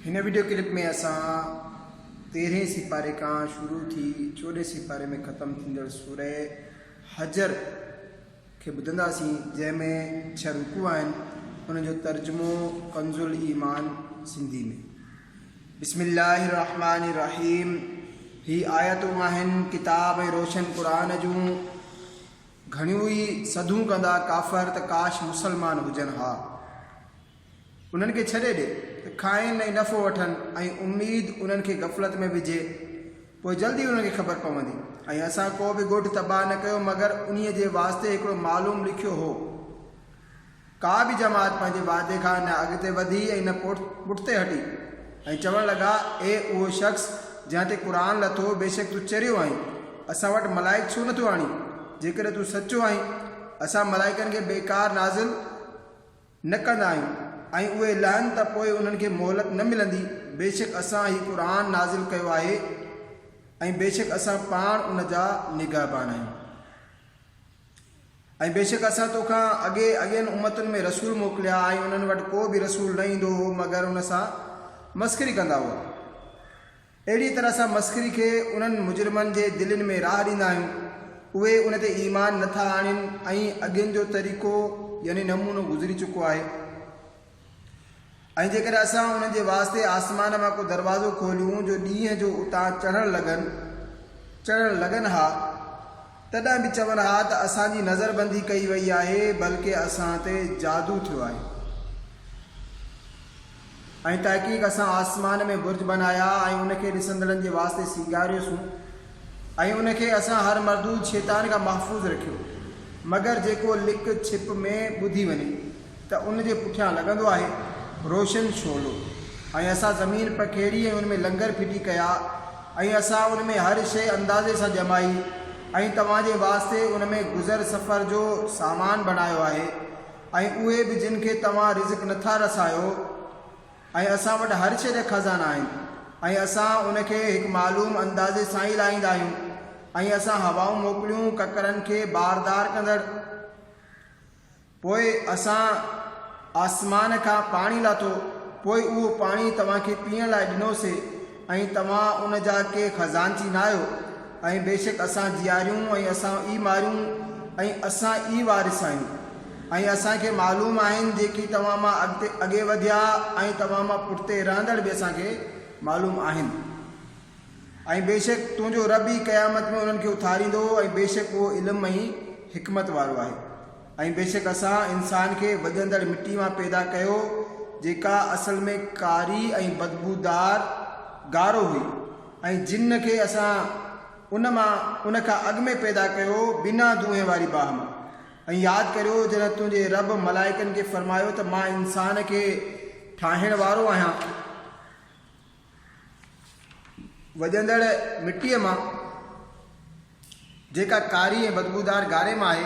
هن video clip ۾ اسان تيرهين سيپاري کان شروع ٿي چوڏهين سيپاري ۾ ختم ٿيندڙ سوره حجر کي ٻڌنداسين جنهن ۾ ڇهه رڪوع آهن ان جو ترجمو ڪنز الايمان سنڌي ۾ بسم الله الرحمن الرحيم هي آيتون آهن ڪتاب ۽ روشن قرآن جون گهڻيون ئي سڌون ڪندا ڪافر ته ڪاش مسلمان هجن ها انهن کي ڇڏي ڏي ته کائين ۽ نفعو وٺن ۽ اميد انهن کي غفلت ۾ وجهي، پوء جلد ئي انهن کي خبر پوندي. ۽ اسان ڪو به ڳوٺ تباهه نه ڪيو مگر انهيء جي واسطي هڪڙو معلوم لکيو هو. ڪا به جماعت پنهنجي وعدي کان نه اڳتي وڌي ۽ نه پٺتي هٽي ۽ چوڻ لڳا، اي اهو شخص جنهن تي قرآن لٿو، بيشڪ تون چريو آهين، اسان وٽ ملائڪ ڇو نه ٿو آڻين، جيڪڏهن تون سچو آهين، اسان ملائڪن کي بيڪار نازل نه ڪندا آهيون ۽ اهي لهن ته پوء انهن کي مهلت نه ملندي، بيشڪ اسان هي قرآن نازل ڪيو آهي ۽ بيشڪ اسان پاڻ ان جا نگهبان آهيون. ۽ بيشڪ اسان تو کان اڳي اڳين امتن ۾ رسول موڪليا ۽ انهن وٽ ڪو به رسول نه ايندو هو مگر ان سان مسخري ڪندا هئا. اهڙيء طرح اسان مسخري کي انهن مجرمن جي دلين ۾ راهه ڏيندا آهيون، اهي ان تي ايمان نه ٿا آڻين ۽ اڳين جو طريقو يعني نمونو گذري چڪو آهي. ۽ جيڪڏهن اسان انهن جي واسطي آسمان مان ڪو دروازو کوليون جو ڏينهن جو اتان چڙهڻ لڳن، چڙهڻ لڳن ها، تڏهن به چون ها ته اسان جي نظر بندي ڪئي وئي آهي، بلڪ اسان تي جادو ٿيو آهي. ۽ تحقيق اسان آسمان ۾ برج بنايا ۽ ان کي ڏسندڙن جي واسطي سينگاريوسون ۽ ان کي اسان هر مردود شيطان کان محفوظ رکيو مگر جيڪو لڪ ڇپ ۾ ٻڌي وڃي ته ان جي پٺيان لڳندو آهي روشن شعلو ۽ اسان زمين پکيڙي ۽ ان ۾ لنگر ڦٽي ڪيا ۽ اسان ان ۾ هر شيء اندازي سان ڄمائي ۽ توهان جي واسطي ان ۾ گذر سفر جو سامان بنايو آهي ۽ اهي به جن کي توهان رزق نه ٿا رسايو ۽ اسان وٽ هر شيء جا خزانا آهن ۽ اسان ان کي هڪ معلوم اندازي سان ئي لاهيندا آهيون ۽ اسان هوائون موڪليون ڪڪرن کي باردار ڪندڙ پوء اسان آسمان کان پاڻي لاٿو پوء اهو پاڻي توهان کي پيئڻ لاء ڏنوسي ۽ توهان ان جا ڪي خزانچي ناهيو، ۽ بيشڪ اسان جياريون ۽ اسان ئي ماريون ۽ اسان ئي وارث آهيون، ۽ اسان کي معلوم آهن جيڪي توهان مان اڳتي اڳي وڌيا ۽ توهان مان پٺتي رهندڙ به اسان کي معلوم آهن، ۽ بيشڪ تنهنجو رب ئي قيامت ۾ انهن کي اٿاريندو، ۽ بيشڪ اهو علم ۽ حڪمت وارو آهي. ۽ بيشڪ اسان انسان کي وڄندڙ مٽي مان پيدا ڪيو جيڪا اصل ۾ ڪاري ۽ بدبودار، گارو، هئي ۽ جن کي اسان ان مان، ان کان اڳ ۾، پيدا ڪيو بنا دونهين واري باهه مان. ۽ ياد ڪريو جڏهن تنهنجي رب ملائڪن کي فرمايو ته مان انسان کي ٺاهڻ وارو آهيان. وڄندڙ مٽيء مان، جيڪا ڪاري ۽ بدبودار گاري مان آهي،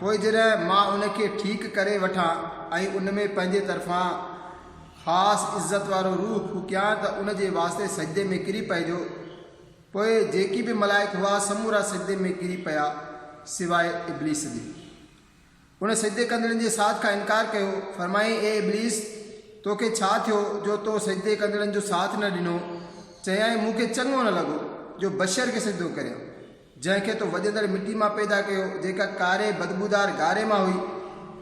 پوء جڏهن مان ان کي ٺيڪ ڪري وٺان ۽ ان ۾ پنهنجي طرفان خاص عزت وارو روح ڦوڪيان ته ان جي واسطي سجدي ۾ ڪري پئجو. پوء جيڪي به ملائڪ هئا سمورا سجدي ۾ ڪري پيا سواء ابليس جي. ان سجدي ڪندڙن جي ساٿ کان انڪار ڪيو، فرمايائين، اي ابليس! تو کي ڇا ٿيو جو تو سجدي ڪندڙن جو ساٿ نه ڏنو؟ چيائين، مون کي چڱو نه لڳو جو بشر کي سجدو ڪريان، جنهن کي تو وڄندڙ مٽي مان پيدا ڪيو، جيڪا ڪاري بدبودار ڳاري مان هئي.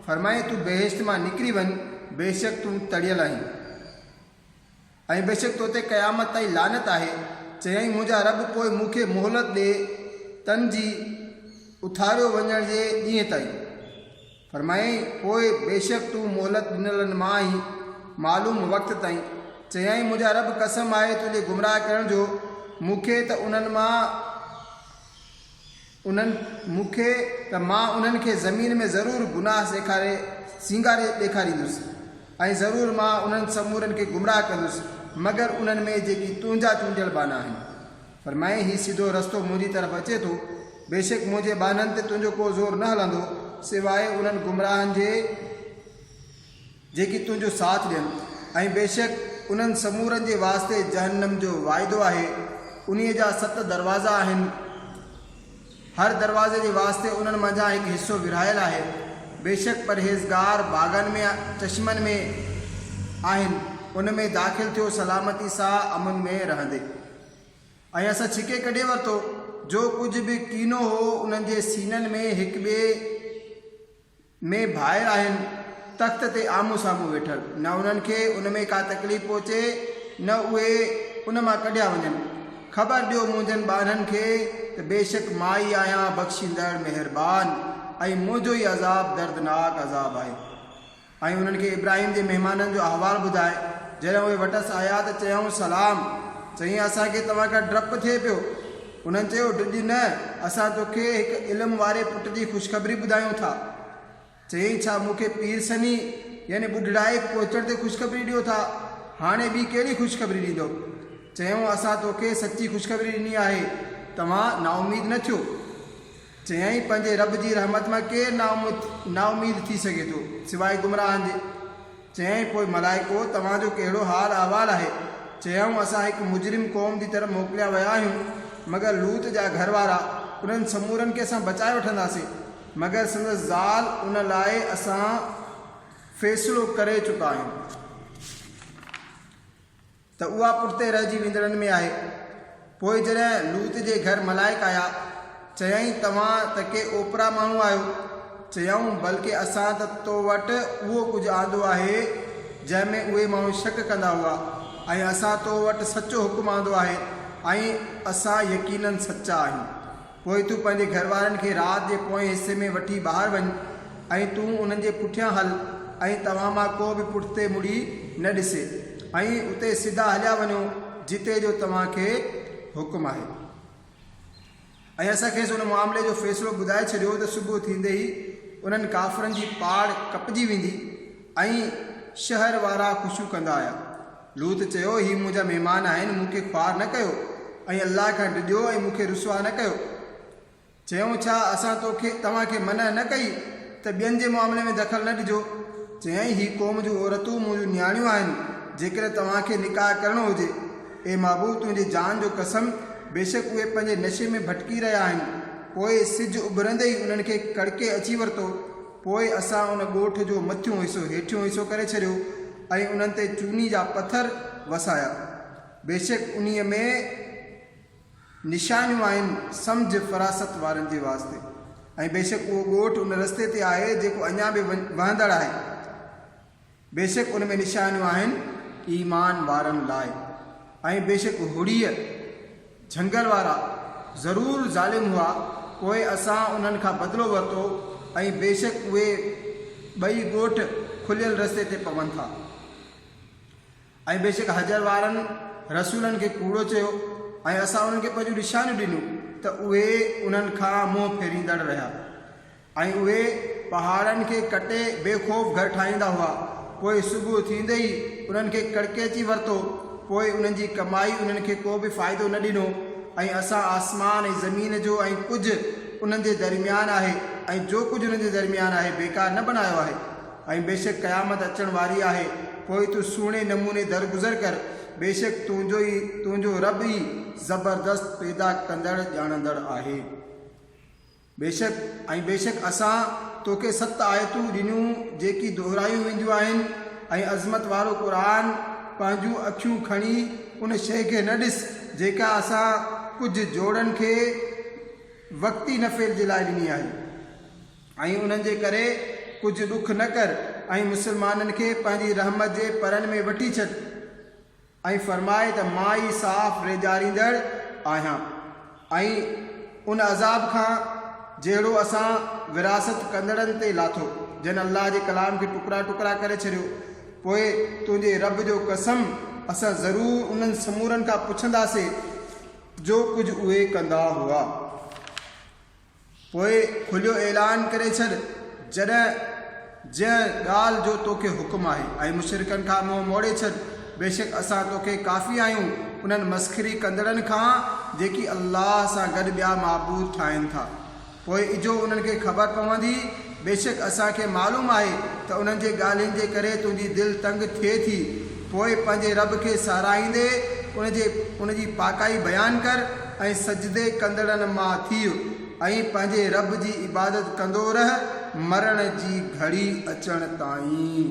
فرمايائين، تون بهشت مان نڪري وڃ، بيشڪ تون تڙيل آهين. ۽ بيشڪ تو تي قيامت تائين لعنت آهي، چيائين منهنجا رب پوء مون کي مهلت ڏي تن جي اٿاريو وڃڻ جي ڏينهن تائين، فرمايائين پوء بيشڪ تون مهلت ڏنلن مان آهين معلوم وقت تائين، چيائين منهنجا رب قسم آهي تنهنجي گمراهه ڪرڻ جو مون کي ته انهن مان انهن مون کي ته مان انهن کي زمين ۾ ضرور گناهه سيکاري سينگاري ڏيکاريندس، ۽ ضرور مان انهن سمورن کي گمراهه ڪندس مگر انهن ۾ جيڪي تنهنجا چونڊيل ٻانها آهن. فرمائين، هي سڌو رستو منهنجي طرف اچي ٿو، بيشڪ منهنجي ٻانهن تي تنهنجو ڪو زور نه هلندو سواء انهن گمراهن جي. جيڪي تنهنجو ساٿ ڏين ۽ بيشڪ انهن سمورن جي واسطي جهنم جو واعدو آهي، انهيء جا ست دروازا آهن، هر دروازي جي واسطي انهن منجهان هڪ حصو ورهايل آهي، بيشڪ پرهيزگار باغن ۾، چشمن ۾، آهن، ان ۾ داخل ٿيو سلامتي سان امن ۾ رهندي. ۽ اسان ڇڪي ڪڍي ورتو جو ڪجهه به ڪينو هو انهن جي سينن ۾ هڪ ٻئي ۾ ڀائر آهن تخت تي آمهون سامهون ويٺل، نه انهن کي ان ۾ ڪا تڪليف پهچي نه اهي ان مان ڪڍيا وڃن. خبر ڏيو منهنجن ٻانهن کي ته بيشڪ مان ئي آهيان بخشيندڙ مهربان ۽ منهنجو ئي عذاب دردناڪ عذاب آهي. ۽ انهن کي ابراهيم جي مهمانن جو احوال ٻڌاء، جڏهن اهي وٽس آيا ته چيائون سلام، چيائين اسان کي توهان کان ڊپ ٿئي پيو. هنن چيو، ڊڄ نه، اسان توکي هڪ علم واري پٽ جي خوشخبري ٻڌايون ٿا. چيائين، ڇا مون کي پير سني يعني ٻڍڙائي پهچڻ تي خوشخبري ڏيو ٿا؟ هاڻي ٻي ڪهڙي خوشخبري ڏيندؤ؟ چيائون، اسان توکي سچي خوشخبري ڏني آهي، توهان نااميد نه ٿيو. چيائين، پنهنجي رب جي رحمت مان ڪير نااميد ٿي سگهي ٿو، سواء گمراهن جي. چيائين، پوء ملائڪو! توهان جو ڪهڙو حال احوال آهي؟ چيائون، اسان هڪ مجرم قوم جي طرف موڪليا ويا آهيون، مگر لوط جا گهر وارا، انهن سمورن کي اسان بچائي وٺنداسين، مگر سندس زال، ان لاء اسان فيصلو ڪري چڪا آهيون. ته اها پٺتي رهجي ويندڙن ۾ آهي. پوء جڏهن لوط جي گهر ملائڪ آيا، چيائين، توهان ته ڪي اوپرا ماڻهو آهيو. چيائون، بلڪه اسان ته تو وٽ اهو ڪجهه آندو آهي، جنهن ۾ اهي ماڻهو شڪ ڪندا هئا، ۽ اسان تو وٽ سچو حڪم آندو آهي، ۽ اسان يقيناً سچا آهيون. پوء تون پنهنجي گهر وارن کي رات جي پوئين حصي ۾ وٺي ٻاهر وڃ ۽ تون انهن جي پٺيان هل ۽ توهان مان ڪو به پٺتي مڙي نه ڏسي ۽ اتي سڌا هليا وڃو جتي جو توهان کي حڪم آهي. ۽ اسان کيس ان معاملي جو فيصلو ٻڌائي ڇڏيو ته صبح ٿيندي ئي انهن ڪافرن جي پاڙ ڪپجي ويندي ۽ شهر وارا خوشيون ڪندا آيا. لوط چيو، هي منهنجا مهمان آهن، مون کي خوار نه ڪيو ۽ الله کان ڊڄو ۽ مون کي رسوا نه ڪيو. چيائون، ڇا اسان تو کي، توهان کي، منع نه ڪئي ته ٻين جي معاملي ۾ دخل نه ڏجو؟ چيائين، هي قوم جون عورتون منهنجون نياڻيون آهن، جيڪڏهن توهان کي نڪاح ڪرڻو هجي. اي محبوب! تنهنجي جان جو قسم! بيشڪ اهي پنهنجي نشي ۾ ڀٽڪي رهيا آهن. پوء سج اڀرندي ئي انهن کي ڪڙڪي اچي ورتو پوء اسان ان ڳوٺ جو مٿيون حصو هيٺيون حصو ڪري ڇڏيو ۽ انهن تي چوني جا پٿر وسايا. بيشڪ انهيء ۾ نشانيون آهن سمجهه فراست وارن جي واسطي ۽ بيشڪ اهو ڳوٺ ان رستي تي آهي جيڪو اڃا به وهندڙ آهي. بيشڪ ان ۾ نشانيون آهن ايمان وارن لاء ۽ بيشڪ هڙيء، جهنگل وارا، ضرور ظالم هئا، پوء اسان انهن کان بدلو ورتو ۽ بيشڪ اهي، ٻئي ڳوٺ، کليل رستي تي پون ٿا. ۽ بيشڪ حجر وارن رسولن کي ڪوڙو چيو ۽ اسان انهن کي پنهنجون نشانيون ڏنيون ته اهي انهن کان منهن ڦيريندڙ رهيا. ۽ اهي پهاڙن کي ڪٽي بي خوف گهر ٺاهيندا هئا. پوء صبح ٿيندي ئي انهن کي ڪڙڪيچي ورتو. پوء انهن جي ڪمائي انهن کي ڪو به فائدو نه ڏنو ۽ اسان آسمان ۽ زمين جو ۽ ڪجهه انهن جي درميان آهي ۽ جو ڪجهه انهن جي درميان آهي بيڪار نه بنايو آهي ۽ بيشڪ قيامت اچڻ واري آهي پوء تون سهڻي نموني درگذر ڪر بيشڪ تنهنجو ئي تنهنجو رب ئي زبردست پيدا ڪندڙ ڄاڻندڙ آهي. بيشڪ ۽ بيشڪ اسان توکي ست آيتون ڏنيون جيڪي دهرايون وينديون آهن ۽ عظمت وارو قرآن پنهنجون اکيون کڻي ان شيء کي نه ڏس جيڪا اسان ڪجهه جوڙن کي وقتي نفعي جي لاء ڏني آهي ۽ انهن جي ڪري ڪجهه ڏک نه ڪر ۽ مسلمانن کي پنهنجي رحمت جي پرن ۾ وٺي ڇڏ. ائين فرمائي ته مان ئي صاف ريڄاريندڙ آهيان ۽ ان عذاب کان جهڙو اسان ورهاست ڪندڙن تي لاٿو، جن الله جي ڪلام کي ٽڪرا ٽڪرا ڪري ڇڏيو، پوء تنهنجي رب جو قسم اسان ضرور انهن سمورن کان پڇنداسين جو ڪجهه اهي ڪندا هئا. پوء کليو اعلان ڪري ڇڏ، جڏهن جنهن ڳالهه جو توکي حڪم آهي، ۽ مشرڪن کان منهن موڙي ڇڏ، بيشڪ اسان توکي ڪافي آهيون انهن مسخري ڪندڙن کان جيڪي الله سان گڏ ٻيا معبود ٺاهين ٿا. پوء اجهو انهن کي خبر پوندي بيشڪ اسان کي معلوم آهي ته انهن جي ڳالهين جي ڪري تنهنجي دل تنگ ٿئي ٿي، پوء پنهنجي رب کي ساراهيندي ان جي ان جي پاڪائي بيان ڪر ۽ سجدي ڪندڙن مان ٿيء ۽ پنهنجي رب جي عبادت ڪندو رهه مرڻ جي گهڙي اچڻ تائين.